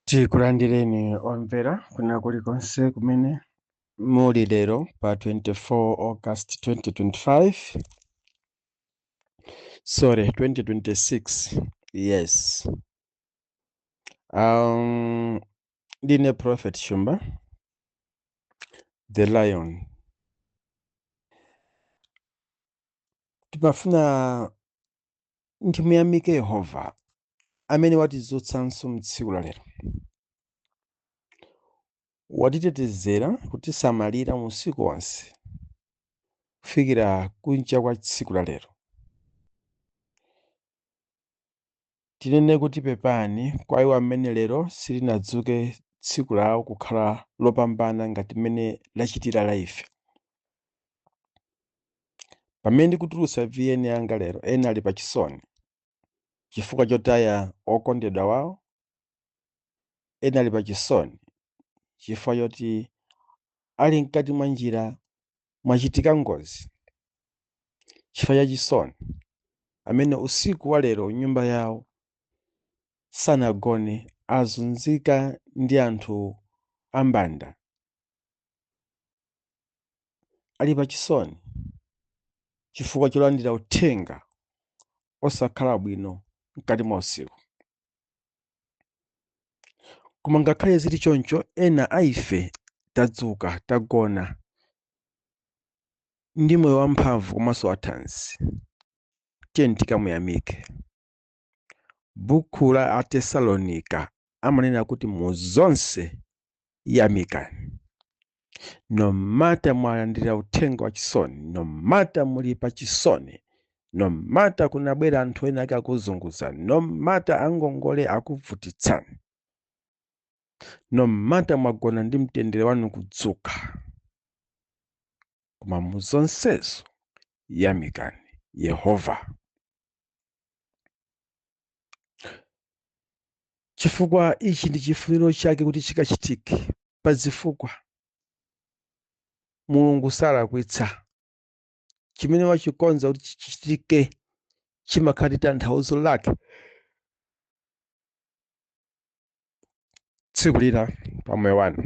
tikulandireni omvera kuna kulikonse kumene muli lero pa 24 august 2025 sorry 2026 yes um, ndine prophet shumba the lion timafuna Timuyamike Yehova amene watidzutsanso m'tsiku la lero. Watitetezera kutisamalira usiku wonse kufikira kucha kwa tsiku la lero. Tinene kuti pepani kwa iwo amene lero silinadzuke tsiku lawo kukhala lopambana ngati mmene lachitira la ife. Pamene ndikutulutsa VN yanga lero, ena ali pachisoni chifukwa chotaya okondedwa wawo, ena ali pachisoni chifukwa choti ali mkati mwa njira mwachitika ngozi chifukwa cha chisoni, amene usiku wa lero nyumba yawo sanagone, azunzika ndi anthu ambanda, ali pa chisoni chifukwa cholandira uthenga osakhala bwino mkati mwa usiku koma ngakhale zili choncho ena a ife tadzuka tagona ndi moyo wamphamvu komanso wathanzi tiyeni tikamuyamike Buku la Atesalonika amanena kuti mu zonse yamikani. No matter mwalandira uthenga wa chisoni, no matter muli pa chisoni, no matter kunabwera anthu ena ake akuzunguzani, no matter angongole akuvutitsani, no matter mwagona ndi mtendere wanu kudzuka, koma mu zonsezo yamikani Yehova. chifukwa ichi ndi chifuniro chake kuti chikachitike pa zifukwa mulungu salakwitsa chimene wachikonza kuti chichitike chimakhala ndi tanthauzo lake tsiku lina pa moyo wanu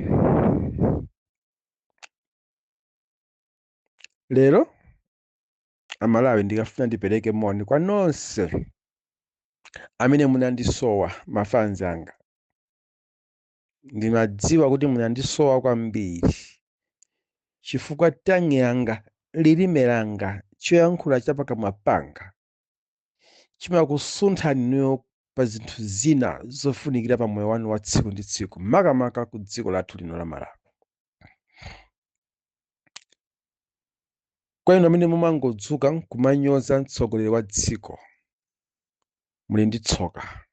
lero amalawi ndikafuna ndipereke moni kwa nonse amene munandisowa mafanzi anga ndimadziwa kuti munandisowa kwambiri chifukwa tongue yanga lilime langa choyankhula cha pakamwa panga chimakusunthani inuyo pa zinthu zina zofunikira pa moyo wanu wa tsiku ndi tsiku makamaka ku dziko lathu lino la malawi kwa inu amene mumangodzuka nkumanyoza mtsogoleri wa dziko muli ndi tsoka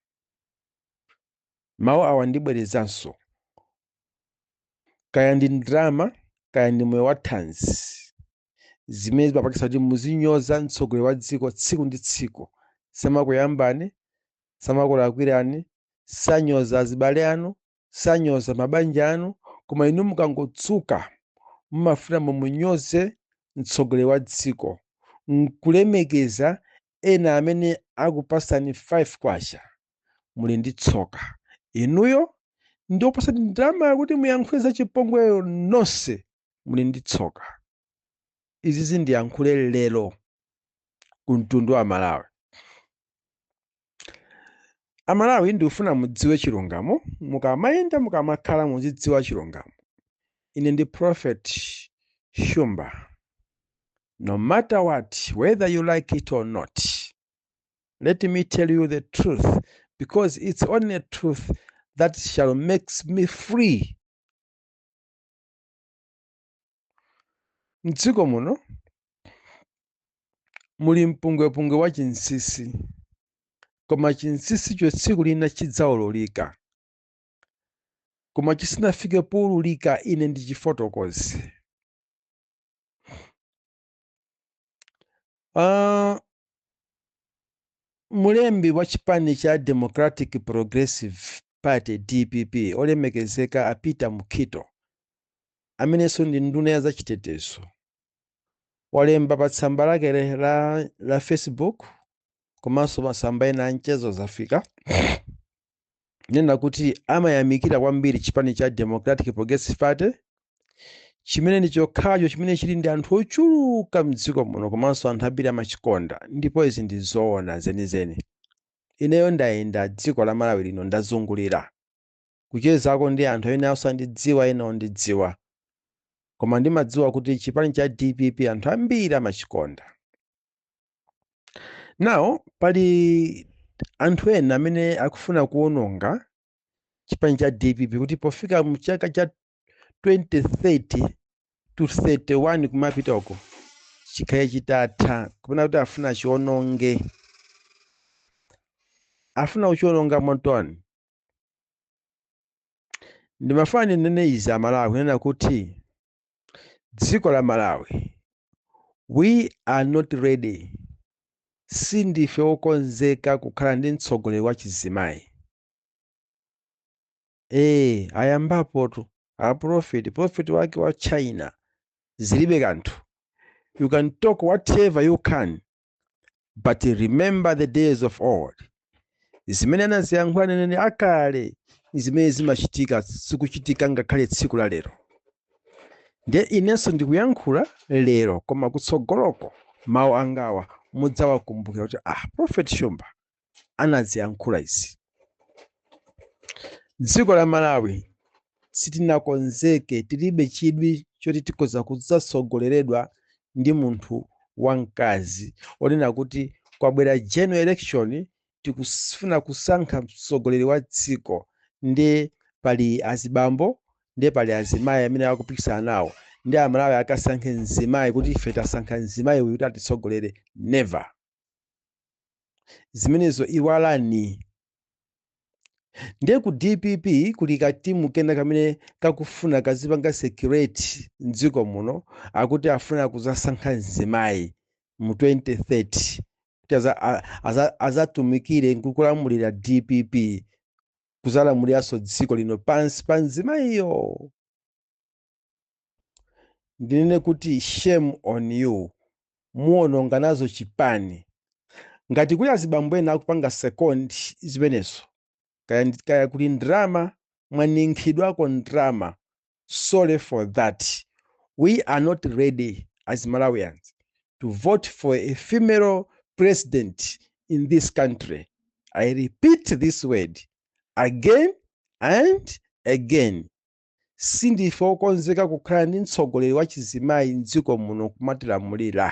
mawu awa ndibwerezanso kaya ndi ndrama kaya ndi moyo wa thanzi zimene zimapangitsa kuti muzinyoza mtsogoleri wa dziko tsiku ndi tsiku samakuyambani samakulakwirani sanyoza azibale anu sanyoza mabanja anu koma inu mukangodzuka mumafuna mumunyoze mtsogoleri wa dziko nkulemekeza ena amene akupasani 5 kwacha muli ndi tsoka inuyo ndi opasani ndrama yakuti muyankhule za chipongweyo nonse muli ndi tsoka izi zindiyankhule lero ku mtundu wa malawi amalawi ndikufuna mudziwe chilungamo mukamayenda mukamakhala muzidziwa chilungamo ine ndi prophet shumba no matter what whether you like it or not let me tell you the truth because it's only truth that shall make me free M'dziko muno muli mpungwepungwe wa chinsisi, koma chinsisicho tsiku lina chidzaululika. Koma chisanafike poululika, ine ndichifotokoze. Uh, mulembi wa chipani cha democratic progressive party dpp olemekezeka a peter mukhito amenenso ndi nduna ya zachitetezo walemba pa tsamba lake le- la facebook komanso masamba ena a mchezo zafika kunena kuti amayamikira kwambiri chipani cha Democratic Progressive Party chimene ndi chokhacho chimene chili ndi anthu ochuluka mdziko muno komanso anthu ambiri amachikonda ndipo izi ndi zoona zenizeni ineyo ndayenda dziko la malawi lino ndazungulira kuchezako ndi anthu ena osandidziwa ena ondidziwa koma ndimadziwa kuti chipani cha dpp anthu ambiri amachikonda Now, pali anthu ena amene akufuna kuononga chipani cha dpp kuti pofika mu chaka cha 2030 to 31 kumapitako chikhale chitatha kapena kuti afuna achiononge afuna kuchiononga motani ndimafuna ndinene izi amalawi kunena kuti Dziko la Malawi we are not ready sindife wokonzeka kukhala ndi mtsogoleri wa chizimayi. Ee ayambapotu a prophet prophet wake wa China zilibe kanthu you can talk whatever you can but remember the days of old zimene anaziyankhula aneneri akale zimene zimachitika zikuchitika ngakhale tsiku la lero ndiye inenso ndikuyankhula lero koma kutsogoloko mawu angawa mudzawakumbukira kuti a prophet shumba anaziyankhula izi dziko la malawi sitinakonzeke tilibe chidwi choti tikhoza kudzatsogoleredwa ndi munthu wamkazi onena kuti kwabwera general election tikufuna kusankha mtsogoleri wa dziko ndi pali azibambo ndi pali azimayi amene akupikisana nawo ndi amalawi akasankhe mzimayi kuti ife tasankha mzimayi uyu kuti atitsogolere never zimenezo iwalani ndiye ku dpp kuli katimu kena kamene kakufuna kazipanga secret mdziko muno akuti afuna kuzasankha mzimayi mu 2030 kuti azatumikire nkukulamulira dpp kuzalamuliranso dziko lino pansi pa mzimayiyo ndinene kuti shame on you muononga nazo chipani ngati kuli azibambo ena akupanga second zimenezo kaya kuli ndrama mwaninkhidwako ndrama sorry for that we are not ready as malawians to vote for a female president in this country i repeat this word again and again sindife okonzeka kukhala ndi mtsogoleri wachizimayi m'dziko muno kumatilamulira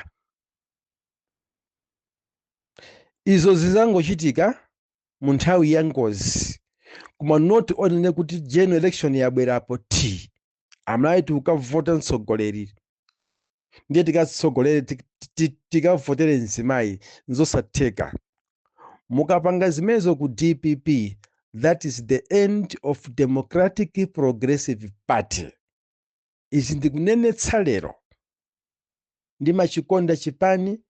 izo zizangochitika mu nthawi ya ngozi koma not onena kuti general election yabwerapo t amalawi tikukavota mtsogoleri ndiye tikatsogolere tikavotere mzimayi nzosatheka mukapanga zimenezo ku dpp that is the end of democratic progressive party izi ndikunenetsa lero ndimachikonda chipani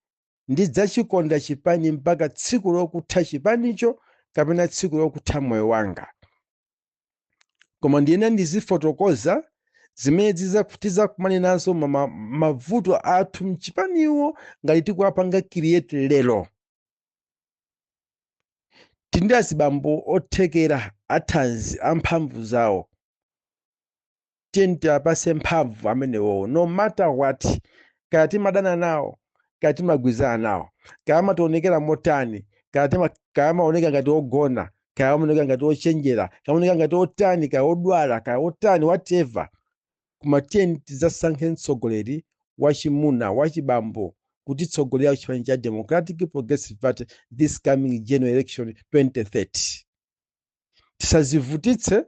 ndidzachikonda chipani mpaka tsiku lokutha chipanicho kapena tsiku lokutha moyo wanga koma ndiyena ndizifotokoza zimene tiza- tizakumane nazo ma- ma- mavuto athu mchipaniwo ngati tikuwapanga create lero tili ndi azibambo othekera athanzi amphamvu zawo tiyeni tiwapase mphamvu amenewo no matter what kaya timadana nawo kaya timagwirizana nawo kaya amationekera motani kaya tima- kaya amaoneka ngati ogona kaya amaoneka ngati ochenjera kaya amaoneka ngati otani kaya odwala kaya otani whatever koma tiyeni tidzasankhe mtsogoleri wachimuna wachibambo kutitsogolera ku chipani cha democratic progressive party this coming general election 2030 tisazivutitse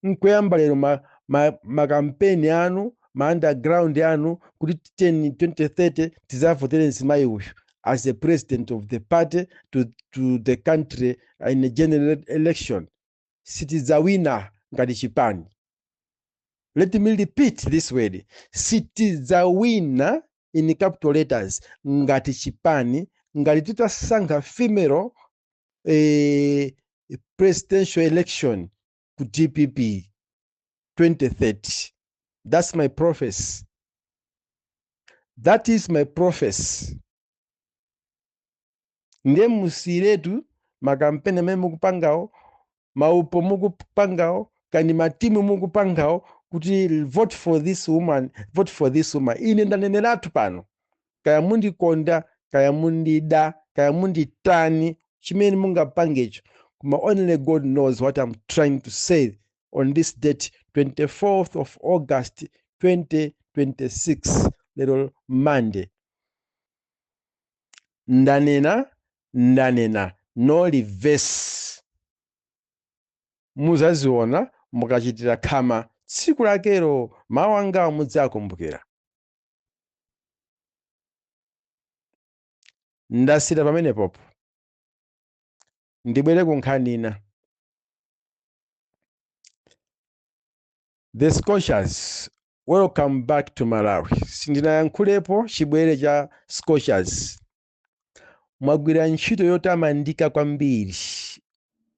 nkuyamba lero ma, ma, makampeni anu ma underground anu kuti 20 2030 tizavotere mzimayi uyu as the president of the party to, to the country in a general election sitidzawina ngati chipani let me repeat this word sitidzawina in capital letters ngati chipani ngati titasankha female eh, presidential election ku dpp 2030 that's my prophecy that is my prophecy ndiye musiyiretu makampeni amene mukupangawo maupo mukupangawo kani matimu mukupangawo kuti vote for this woman vote for this woman ine ndaneneratu pano kaya mundikonda kaya mundida kaya munditani chimene mungapangecho koma only god knows what i'm trying to say on this date 24th of august 2026 lero monday ndanena ndanena no reverse muzaziona mukachitira khama tsiku lakelo mawu angawo mudzakumbukira ndasiyira pamenepopo ndibwere ku nkhani ina The Scorchers welcome back to Malawi. Sindinayankhulepo chibwere cha Scorchers. Mwagwira ntchito yotamandika kwambiri.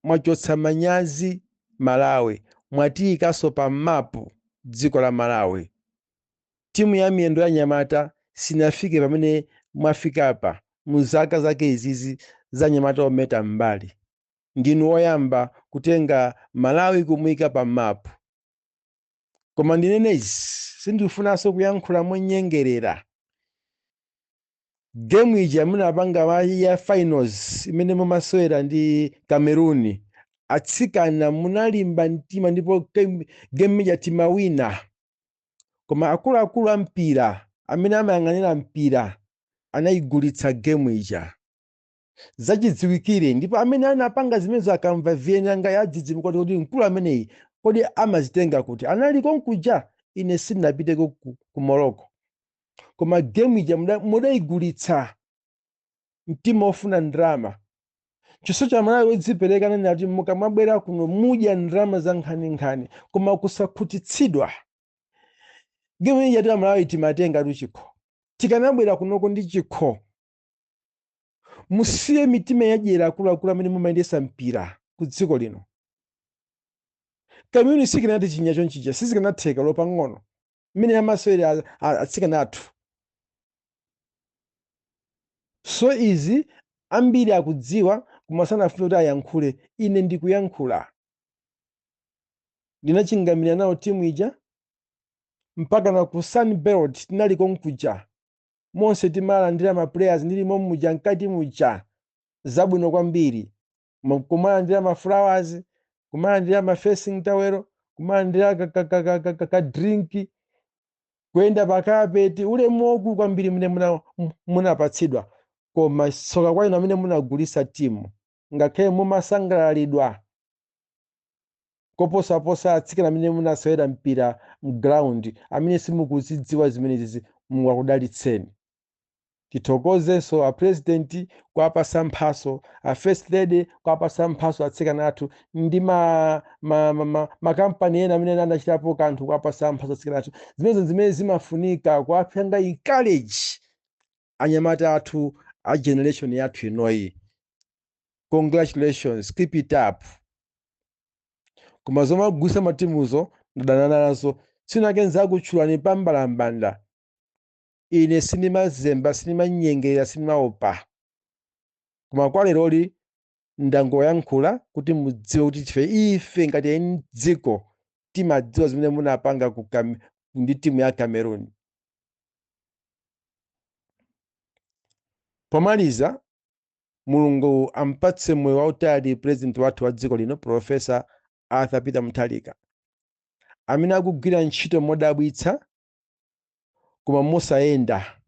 Mwachotsa manyazi Malawi, mwatiyikanso pa mapu dziko la Malawi. Timu ya miyendo ya anyamata sinafike pamene mwafikapa mu zaka zake izizi za anyamata ometa m'mbali. ndinu oyamba kutenga Malawi kumuika pa mapu. Koma ndinene izi, sindifunanso kuyankhula monyengerera. Game ija munapanga ma- ya finals imene mumasewera ndi Cameroon, atsikana munalimba mtima ndipo game game ija timawina. Koma akuluakulu a mpira amene amayang'anira mpira anayigulitsa game ija. zachidziwikire ndipo amene anapanga zimenezo akamva vieni yanga yadzidzimuka kuti kuti mkulu ameneyi kodi amazitenga kuti anali konkuja ine sindinapiteko ku, ku morocco koma gemu ija muda- mudaigulitsa mtima ofuna ndalama chiso cha malawi wodzipereka ananena kuti mukamabwera kuno mudya ndalama za nkhaninkhani koma kusakhutitsidwa gemu ija ife amalawi timatenga tu chikho tikanabwera kunoko ndi chikho musiye mitima yadyera akuluakulu amene mumayendesa mpira ku dziko lino cameroon sikanatichinya chonchija sizikanatheka olo pang'ono mmene amasewera a- a- atsikana athu so izi ambiri akudziwa koma sanafune kuti ayankhule ine ndikuyankhula ndinachingamira nawo timu ija mpaka na ku sunbelt tinali konkuja monse timalandira ma players ndili momo muja mkati muja zabwino kwambiri Mo- kumalandira ma flowers kumalandira ma facing towel kumalandira ka, ka, ka, ka, ka, ka, ka drink kuyenda pa kapeti ulemu waukulu kwambiri umene muna- munapatsidwa koma tsoka kwa inu amene munagulisa timu ngakhale mumasangalalidwa koposaposa atsikana amene munasewera mpira mground amene simukuzidziwa zimenezi mulungu akudalitseni tithokozenso apurezidenti kuwapasa mphaso a first lady kuwapasa mphaso atsikana athu ndi ma, ma, ma, ma, makampani ena amene anachitapo kanthu kuwapasa mphaso atsikana athu zimenezo ndi zimene zimafunika kuwapanga encourage anyamata athu a generation yathu inoyi congratulations keep it up koma zomagulisa matimuzo ndadana nazo tsiku lina ndizakutchulani pa mbalambanda ine sindimazemba sindimanyengerera sindimaopa koma kwa leroli ndangoyankhula kuti mudziwe kuti ife ife ngati eni dziko tikudziwa zimene munapanga ku Cam- ndi timu ya cameroon pomaliza mulungu ampatse moyo wautali president wathu wa dziko lino profesa arthur peter mutharika amene akugwira ntchito modabwitsa koma mosayenda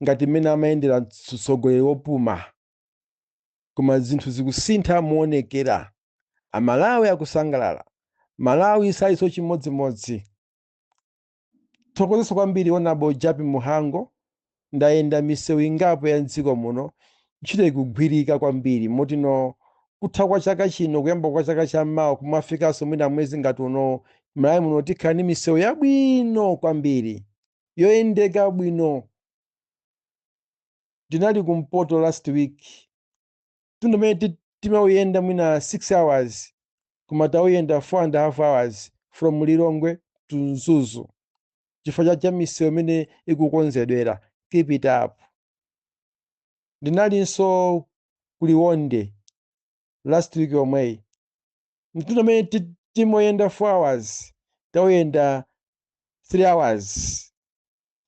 ngati mmene amayendera mtsogoleri wopuma koma zinthu zikusintha moonekera amalawi akusangalala malawi siilinso chimodzimodzi tithokozenso kwambiri honourable jappie mhango ndayenda misewu ingapo ya mdziko muno ntchito ikugwirika kwambiri moti no kutha kwa chaka chino kuyamba kwa chaka cha mawa kumafikanso mwina mwezi ngati unowu malawi muno tikhala ndi misewu yabwino kwambiri yoyendeka bwino ndinali kumpoto last week mtunda mene ti- timauyenda mwina 6 hours koma tauyenda 4 and a half hours from lilongwe to mzuzu chifukwa cha cha misewu mmene ikukonzedwera keep it up ndinalinso kuliwonde last week yomweyi mtunda mene ti- timauyenda 4 hours tauyenda 3 hours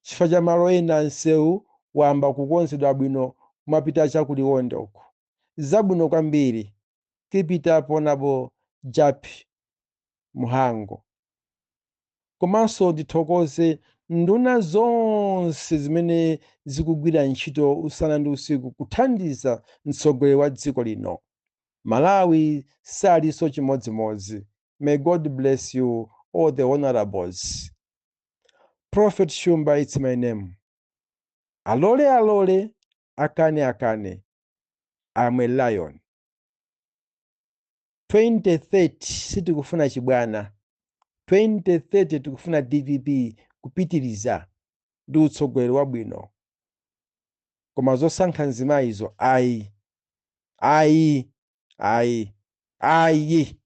Chifukwa cha malo ena msewu wamba kukonzedwa bwino kumapita cha ku Liwonde uku. Zabwino kwambiri. Keep it up Hon. Jappi Mhango. Komanso ndithokoze nduna zonse zimene zikugwira ntchito usana ndi usiku kuthandiza mtsogoleri wa dziko lino. Malawi salinso chimodzimodzi. May God bless you all the Honourables. prophet shumba its my name alole alole akane akane am a lion 2030 sitikufuna chibwana 2030 tikufuna dpp kupitiriza ndi utsogoleri wabwino koma zosankha mzimayizo ayi ayi ayi ayi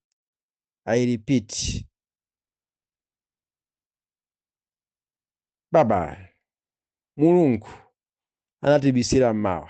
I repeat bye bye mulungu anatibisira m'mawa